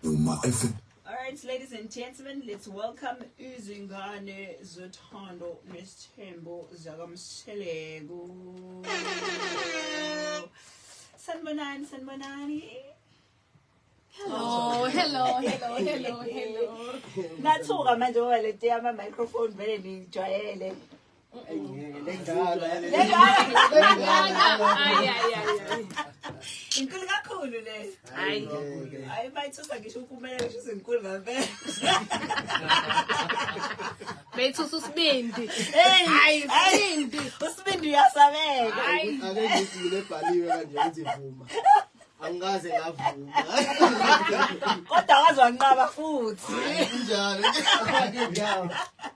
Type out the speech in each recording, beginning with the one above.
Uma FM. All right, ladies and gentlemen, let's welcome izingane zothando nesithembo zakamsheleko. Sanibonani, sanibonani. Hello, hello, hello, hello, hello. Nathuka manje ngoba lento yama microphone vele nijwayele. inkulu kakhulu le hayi hayi bayithusa ngisho ukumelele ngisho izinkulu ngempela beyithusa usibindi hayi usibindi usibindi uyasabeka ake ngithi ngile bhaliwe kanje ngithi vuma angikaze ngavuma kodwa waze wanqaba futhi injalo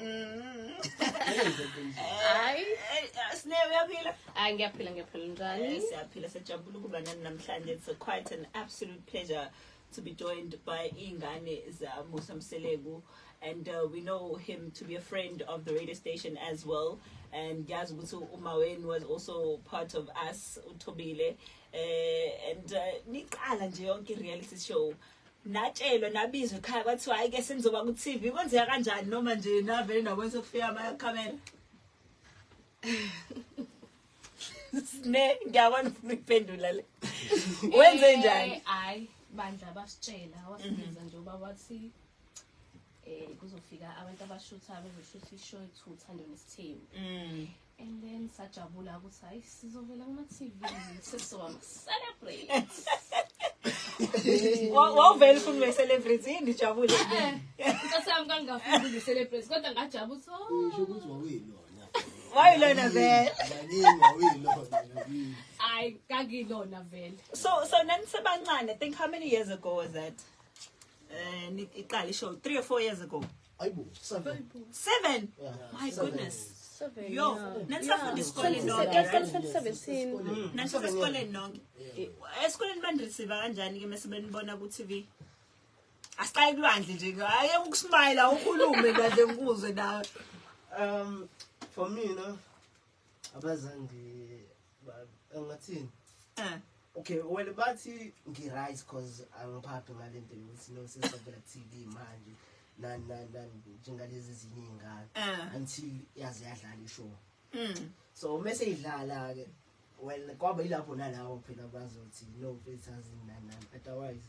Mm. hayi sine uyaphila hayi ngiyaphila ngiyaphila njani eh, siyaphila sejabula ukuba nani namhlanje it's quite an absolute pleasure to be joined by ingane zamusa mseleku and uh, we know him to be a friend of the radio station as well and ngiyazi ukuthi umawen was also part of us uthobile uh, and uh, niqala nje yonke i-reality show natshelwa nabizwa ekhaya kwathiwa hayi ke senizoba ku TV kwenzeka kanjani noma nje navele nabona sokufika ama camera ne ngiyabona ufuna ukuphendula le wenze eh, njani hayi bandla basitshela wasibiza nje ubaba wathi eh kuzofika abantu abashuthayo bezoshutha ishow ethutha ndona isithembu mm. and then sajabula ukuthi hayi sizovela kuma TV sesizoba celebrate wawuvele ufuna ube celebrate yini ijabule inkosi yami kangafuni ube celebrate kodwa ngajabula ukuthi ukuthi wawuyilona wayilona vele hayi kakilona vele so so nanisebancane think how many years ago was that um iqala ishow three or four years ago Ayibo, seven. Seven. Yeah. My Seven. goodness. Seven, Yo, yeah. nanisafunda isikoleni Yeah. nonke. Seven, right? seven, seven, seven. Mm. Nanisafunda esikoleni nonke. Yeah. Esikoleni bandirisiva kanjani ke mase benibona ku TV? Asiqale kulwandle nje. Hayi ukusmayila ukhulume kahle ngikuzwe nawe. Um, for me, no, abazange ngathini eh. okay well bathi ngi-right because angiphaphi ngale nto yokuthi nosesavela tv manje nani nani nani njengalezi zinye iy'ngane eh. until yaze yadlala ishow mm. so uma seyidlala-ke well kwaba yilapho nalawo phela bazothi no filters nani nani otherwise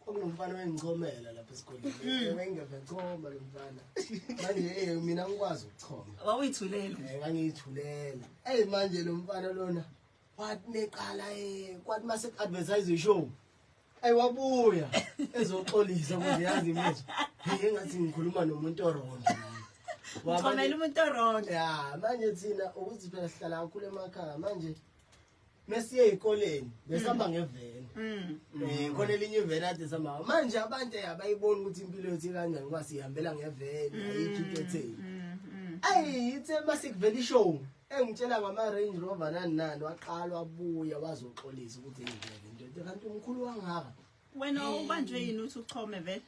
kwakunomfana owengichomela lapha esikoleni mm. wayengeve choma lo mfana manje eh mina ngikwazi ukuchoma wawuyithulela eh ngangiyithulela hey manje lo mfana lona wathi neqala eh kwathi mase advertise ishow ayi wabuya ezoxolisa ukuthi yazi imizwa hey ngathi ngikhuluma nomuntu orongo wabona umuntu orongo ya manje thina ukuthi phela sihlala kakhulu emakhaya manje mesiye ezikoleni besihamba mm. ngeveni mm. eh khona elinye iveni ade sihamba manje abantu abayiboni ukuthi impilo yethu kanjani ngoba sihambela ngeveni mm. ayikho into etheni ayi ithe masikuvela ishow engitshela ngama Range Rover nani nani waqala wabuya wazoxolisa ukuthi ngivele into kanti umkhulu wangaka wena ubanjwe yini uthi uchome vele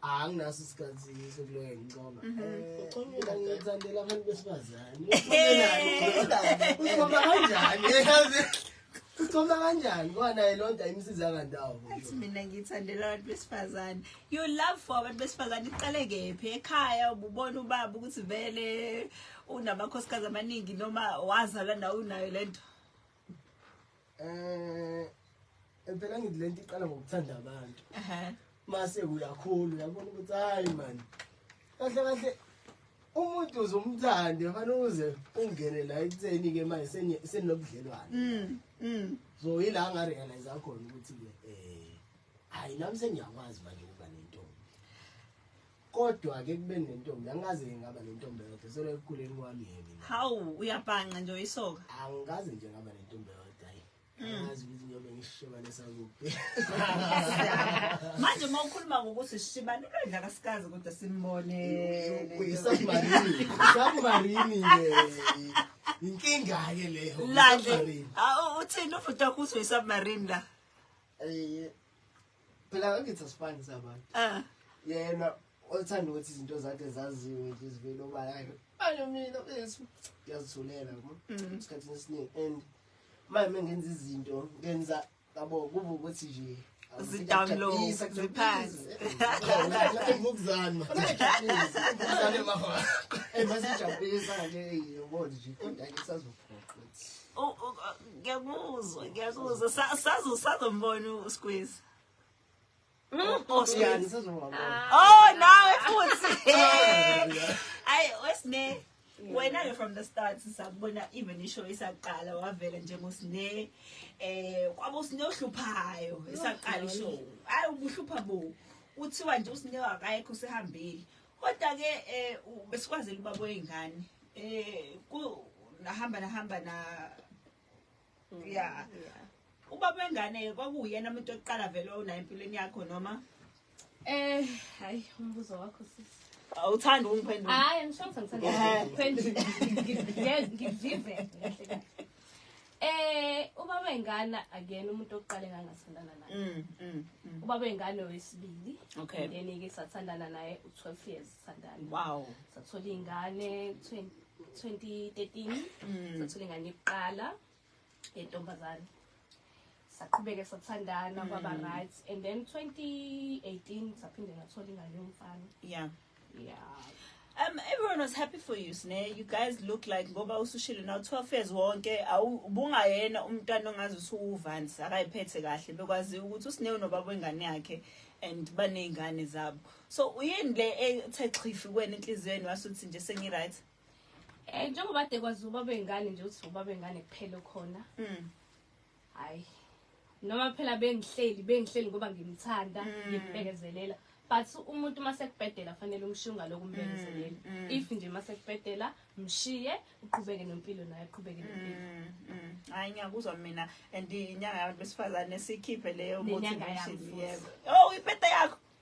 anginaso isikhathi sokuloya ngicoma mhm. eh, ucomela ngithandela abantu besifazane ucoma kanjani yazi ucoma kanjani kwanaye loo nto ayimsiza kandawo athi mina ngithandela abantu besifazane you love for abantu besifazane iqale kephi ekhaya ububona ubaba ukuthi vele unamakhosikazi amaningi noma wazala nawe unayo le nto Eh impela ngithi lento iqala ngokuthanda abantu. Ehhe. Mase uyakhula uyabona ukuthi hayi man. Kahle kahle umuntu uzomthande fanele uze ungene la ekutheni ke manje senye- senobudlelwane. Mm. Mm. So yila nga realize khona ukuthi ke eh hayi nami sengiyakwazi manje ukuba nentombi. Kodwa ke kube nentombi angaze ngingaba nentombi yodwa solo ekukhuleni kwami yini. Hawu uyabhanqa nje uyisoka. Angikaze nje ngaba nentombi yodwa yini. Mm. Ngazi ukuthi ngiyobe ngishibane sakuphi. Manje uma ukhuluma ngokuthi sishibane ubedla kasikazi kodwa simbone. Uyisubmarine. Submarine ke. Inkinga ke leyo. Lande. Uthini ufuthi ukuthi uyisubmarine la? Eh phela angithi asifani sabantu ah yena othanda ukuthi izinto zakhe zaziwe nje zivele obala yakhe manje mina besu ngiyazithulela yabo mm. isikhathini esiningi and manje mengenza izinto ngenza yabo kuba ukuthi nje zidownload ziphansi ngokuzana ngokuzana mama emase jabulisa nje yobona nje kodwa ke sazophoqa ngiyakuzwa ngiyakuzwa sazo sazombona usqueeze hmm? osqueeze oh nawe futhi ayi wesine wena-ke from the start sakubona even ishow isaqala wavela njengosine eh kwaba usine ohluphayo isaqala ishow ayi ubuhlupha bo kuthiwa nje usine wakayekho usehambile Kodwa ke eh besikwazela ubaba wezingane eh ku nahamba nahamba na mm, yeah ubaba wengane kwakuyena umuntu oqala vele onayo empilweni yakho noma eh hayi umbuzo wakho sisi awuthanda ungiphendula hayi ngisho ngithanda ngiphendula ngivive kahle kahle Eh ubaba ingane akuyena umuntu oqale ngangathandana naye. Mm, mm, mm. Ubaba ingane wesibili. Okay. Then ke sathandana naye u12 years sathandana. Wow. Sathola ingane 20 2013. Mm. Sathola ingane yokuqala yentombazane. saqhubeke sathandana kwaba Mm. right and then 2018 saphinde ngathola ingane yomfana yeah yeah Um, everyone was happy for you, Sne. You guys look like ngoba usushilo now 12 years wonke awu- ubungayena umntwana ongazi usuwuvani akayiphethe kahle bekwazi ukuthi usine unobaba wengane yakhe and banezingane zabo. So uyini le ethe xhifi kwena enhliziyweni wasuthi nje sengi right. eh njengoba de kwazi ubaba wengane nje uthi ubaba wengane kuphela khona Mm. hayi noma phela bengihleli bengihleli ngoba ngimthanda mm. ngimbekezelela but umuntu uma sekubhedela fanele umshunga lokhu umbekezelela mm, mm. if nje uma sekubhedela mshiye uqhubeke nempilo naye uqhubeke nempilo hayi ngiyakuzwa mina and inyanga yabantu besifazane sikhiphe leyo motivation yebo oh ibhede yakho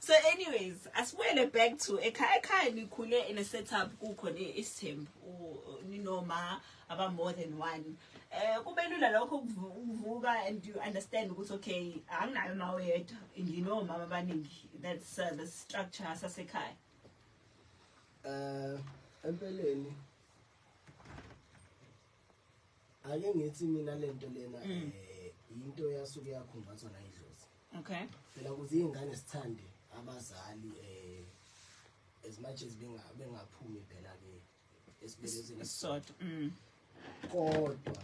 So anyways, asibuyele back to ekhaya ekhaya nikhule in a setup kukhona isithembu ninoma aba more than one. Eh kube lula lokho ukuvuka and you understand ukuthi okay anginayo ma oyedwa nginomama abaningi that's uh, the structure sasekhaya. Eh empeleni ake ngithi mina lento lena mm. eh into yasuke yakhumbathwa la idlozi okay phela kuze izingane sithande abazali eh as much as benga bengaphumi phela ke esibelezweni sodwa mm. kodwa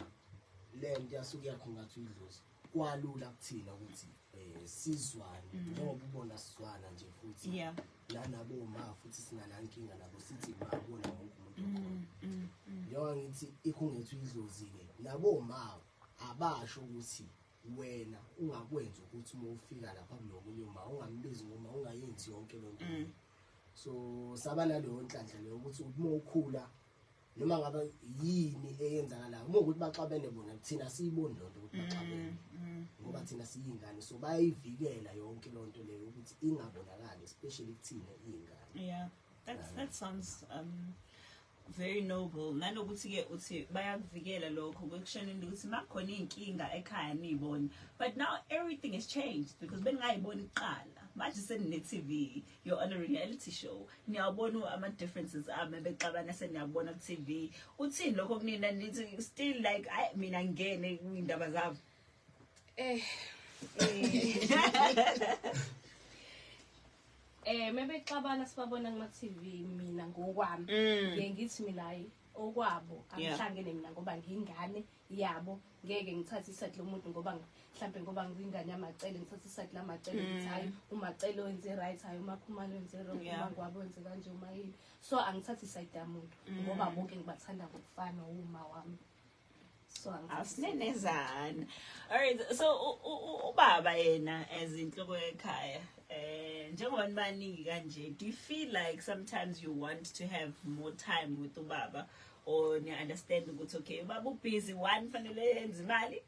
lento yasuke yakhumbathwa idlozi kwalula kuthina ukuthi eh sizwane mm. njengoba ubona sizwana nje futhi yeah nanabo ma futhi sinanankinga nabo sithi ma bona wonke umuntu mm, okhona mm, njengoba ngithi ikhungethu idlozile nabo ma abasho ukuthi wena ungakwenza ukuthi uma ufika lapha kulomunye uma ungambizi ngoma ungayenzi yonke lento so saba naleyo nhlanhla leyo ukuthi uma ukhula noma ngabe yini eyenzakalayo uma ukuthi baxabene bona thina siyiboni lonto ukuthi baxabene mm, mm. ngoba thina siyingane so bayivikela yonke lonto leyo ukuthi ingabonakali especially kuthina iyingane yeah that that sounds um very noble nanokuthi ke uthi bayakuvikela lokho kwekushenini ukuthi makhona inkinga ekhaya niyibona but now everything has changed because beningayiboni kuqala manje senine TV you're on a reality show niyawabona ama differences ame bexabana seniyabona ku TV uthini lokho kunina nithi still like ay mina ngene indaba zabo eh eh mebexabana sibabona kuma TV mina ngokwami mm. ngiye ngithi mina hayi okwabo angihlangene mina ngoba ngingane yabo ngeke ngithathe iside lomuntu ngoba mhlambe ngoba ngingane yamacele ngithathe iside lamacele ukuthi mm. hayi umacele wenze right hayi umakhumalo wenze wrong umangwabo wenze kanje uma yini so angithathe iside yamuntu mm. ngoba bonke ngibathanda ngokufana uma wami so asinenezana alright so ubaba yena as inhloko yekhaya eh njengoba nibaningi kanje do you feel like sometimes you want to have more time with ubaba or ni understand ukuthi okay ubaba ubusy one fanele yenze imali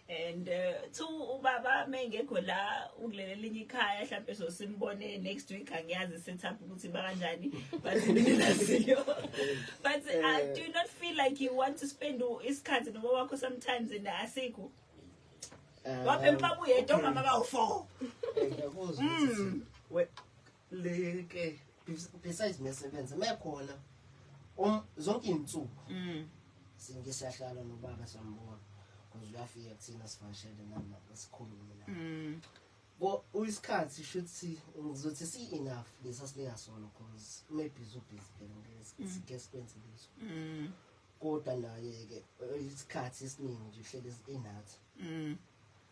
and uh, two ubaba mengekho la ukulele linye ikhaya mhlawumbe so simbone next week angiyazi set up ukuthi bakanjani bazinelaziyo but uh, eh. do you not feel like you want to spend isikhathi noba wakho sometimes and asikho eh, waphe mpabuye etomama bawu-four eh, hmm. leke besides ngesebenza mekhona um zonke insuku mm. singe siyahlala nobaba sambona because uyafika kuthina sivashele nama sikhulume la mm. bo uyisikhathi shuthi ngizothi si enough lesa sileya solo because maybe uzo busy phela ngeke mm. sike sikwenze leso kodwa naye ke isikhathi esiningi nje uhlele enathi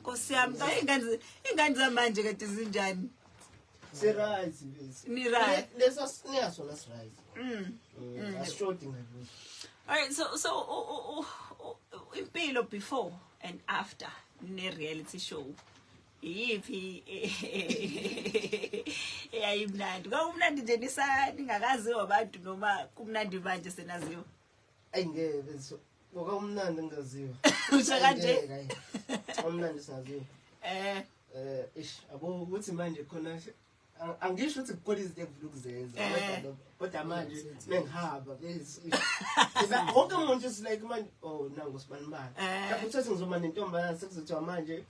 Nkosi yami cha ingane ingane zamanje kade zinjani? Si right bese. Ni right. Lesa sinya sona si right. Mm. mm. mm. Asishodi ngakuthi. All right so so impilo before and after ne reality show. iyiphi eyayimnandi kwakumnandi nje nisa ningakaziwa abantu noma kumnandi manje senaziwa Ayi ngeke bezo. Ngoba umnandi ngaziwa. Usha kanje. Umnandi saziwa. Eh eh ish abo ukuthi manje khona angisho ukuthi kukhona izinto engifuna ukuzenza eh. kodwa manje bengihamba wonke umuntu is like manje oh nangu sibanibani eh. uthole ukuthi ngizoma nentombazane sekuzothiwa manje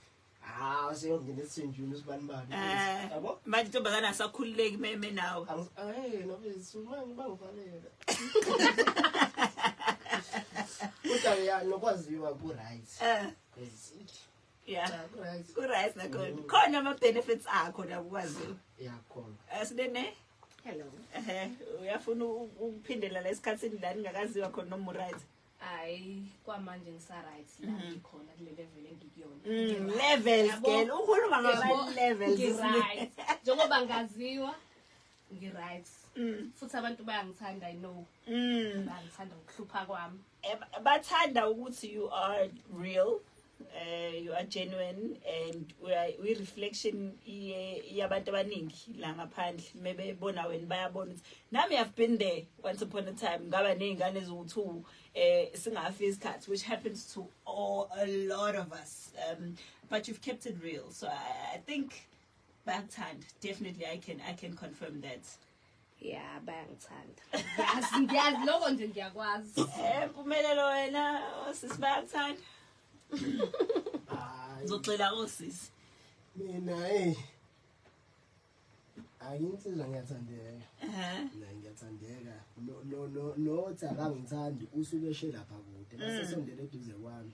Ah, seyongena esinjini usibani bani. Eh, yabo? Manje intombazane asakhululeki meme nawe. Eh, no bese uma ngibangivalela. Kodwa ya nokwaziwa ku right. Eh. Cause Yeah. cha ku right. Ku right na khona. Mm. Khona ama benefits akho la ukwaziwa. Yeah, khona. Asibene. Hello. Eh, uyafuna ukuphindela la esikhatsini la ningakaziwa khona noma right. hayi kwamanje ngisaryt la mm-hmm. ngikhona kule level engikuyona mm, levels girl ukhuluma ngama-levels ngiryt njengoba ngaziwa ngiryt mm. futhi abantu bayangithanda i know mm. bayangithanda ukuhlupha kwami eh, bathanda ukuthi you are real uh, you are genuine and uyi-reflection yabantu abaningi la ngaphandle mebebona wena bayabona ukuthi nami have been there once upon a time ngaba ney'ngane eziwu-two um eh, singafi isikhathi which happens to all, a lot of us um, but you've kept it real so i, I think bakuthanda definitely i can, I can confirm that ya bayangithanda yazi ngiyazi lokho nje ngiyakwazi eh mpumelelo wena osisi bayakuthanda ngizogxila osisi mina hey ayinsizwa ngiyathandeka mina ngiyathandeka no no no no tsaka ngithandi usuke eshe lapha kude base mm. sondele eduze kwami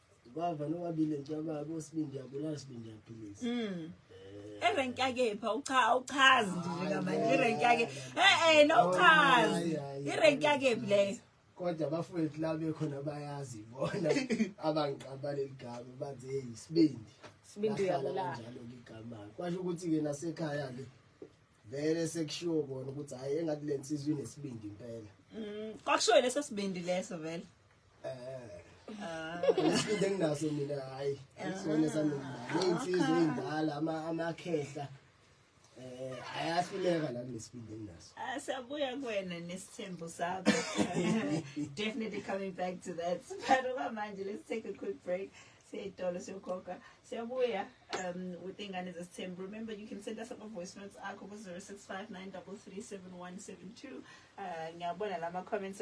Bava nobabili njaba bosibindi yabulala sibindi yaphilisa. Mm. Erank yake pha ucha awuchazi nje njengamanje irank yake. Eh eh no uchazi. Irank yake play. Kodwa bafowethu la bekhona bayazi bona abangiqaba leligama bathi hey sibindi. Sibindi yabulala. Njalo ligama. Kwasho ukuthi ke nasekhaya ke vele sekushiwo kona ukuthi hayi engathi le nsizwa inesibindi impela mm, kwakushiwo leso sibindi leso vele um ah. isibindi enginaso mina hhayi isona sanomali iy'nsizwa ah. ey'ndala amakhehla um ayahluleka la kunesibindi enginaso ah, siyabuya kuwena nesithembo sakho definitely coming back to that but okwamanje let's take a quick break Seyitolo siyokhokha siyabuya um with ingane zesithembu remember you can send us ama voice notes akho ku 0659337172 uh ngiyabona lama comments